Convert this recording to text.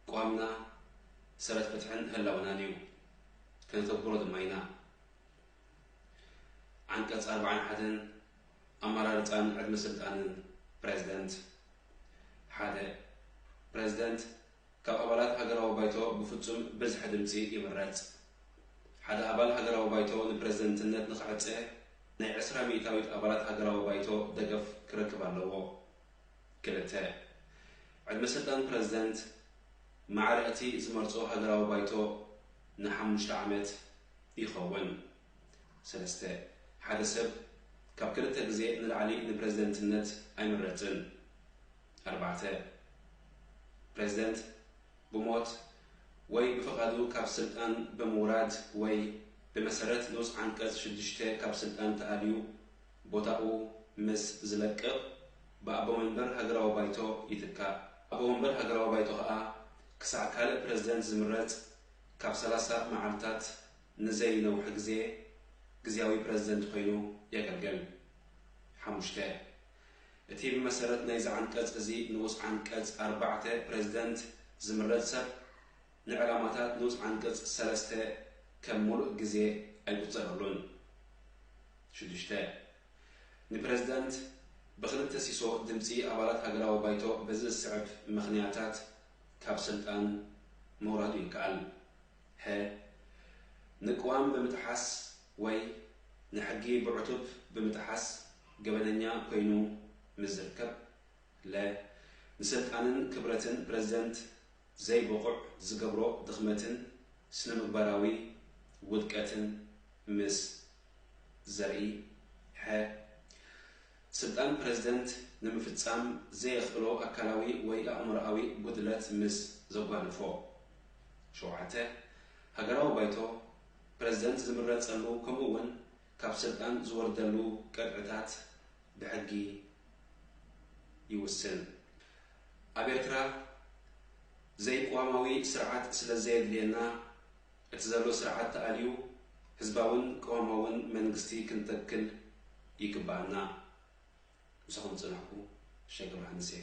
ኣቋምና ሰረት ፍትሕን ህላወናን እዩ። ከነተግብሮ ድማ ኢና። ዓንቀፅ ኣርባዓን ሓደን ኣመራርፃን ዕድመ ስልጣንን ፕረዚደንት ሓደ። ፕረዚደንት ካብ ኣባላት ሃገራዊ ባይቶ ብፍፁም ብዝሒ ድምፂ ይምረፅ። ሓደ ኣባል ሃገራዊ ባይቶ ንፕረዚደንትነት ንክዕፀ ናይ ዕስራ ሚኢታዊት ኣባላት ሃገራዊ ባይቶ ደገፍ ክረክብ ኣለዎ። ክልተ፣ ዕድመ ስልጣን ፕረዚደንት ማዕረ እቲ ዝመርጾ ሃገራዊ ባይቶ ንሓሙሽተ ዓመት ይኸውን። ሰለስተ፣ ሓደ ሰብ ካብ ክልተ ግዜ ንላዕሊ ንፕረዚደንትነት ኣይምረጽን። ኣርባዕተ፣ ፕረዚደንት ብሞት ወይ ብፍቓዱ ካብ ስልጣን ብምውራድ ወይ ብመሰረት ንኡስ ዓንቀጽ ሽዱሽተ ካብ ስልጣን ተኣልዩ ቦታኡ ምስ ዝለቅቕ ብኣቦ መንበር ሃገራዊ ባይቶ ይትካእ። ኣቦ መንበር ሃገራዊ ባይቶ ከኣ ክሳዕ ካልእ ፕረዚደንት ዝምረጽ ካብ ሰላሳ መዓልታት ንዘይነውሐ ግዜ ግዝያዊ ፕረዚደንት ኮይኑ የገልገል። ሓሙሽተ። እቲ ብመሰረት ናይዚ ዓንቀጽ እዚ ንኡስ ዓንቀጽ ኣርባዕተ ፕረዚደንት ዝምረጽ ሰብ፣ ንዕላማታት ንኡስ ዓንቀጽ ሰለስተ ከም ምሉእ ግዜ ኣይቁጸረሉን። ሽዱሽተ። ንፕረዚደንት ብክልተ ሲሶ ድምጺ ኣባላት ሃገራዊ ባይቶ በዚ ዝስዕብ ምኽንያታት ካብ ስልጣን ምውራዱ ይከኣል። ሐ። ንቅዋም ብምጥሓስ ወይ ንሕጊ ብዕቱብ ብምጥሓስ ገበነኛ ኮይኑ ምስ ዝርከብ። ለ። ንስልጣንን ክብረትን ፕረዚደንት ዘይብቑዕ ዝገብሮ ድኽመትን ስነምግባራዊ ውድቀትን ምስ ዘርኢ፣ ሐ። ስልጣን ፕረዚደንት ንምፍጻም ዘየኽእሎ ኣካላዊ ወይ ኣእምሮኣዊ ጉድለት ምስ ዘጓንፎ። ሸውዓተ። ሃገራዊ ባይቶ፣ ፕረዚደንት ዝምረጸሉ ከምኡ'ውን ካብ ስልጣን ዝወርደሉ ቅጥዕታት ብሕጊ ይውስን። ኣብ ኤርትራ ዘይቅዋማዊ ስርዓት ስለዘየድልየና እቲ ዘሎ ስርዓት ተኣልዩ ህዝባውን ቅዋማውን መንግስቲ ክንተክል ይግበኣና። ምሳኹም ዝጸናሕኩ ሸገ ዮሃንስ እየ።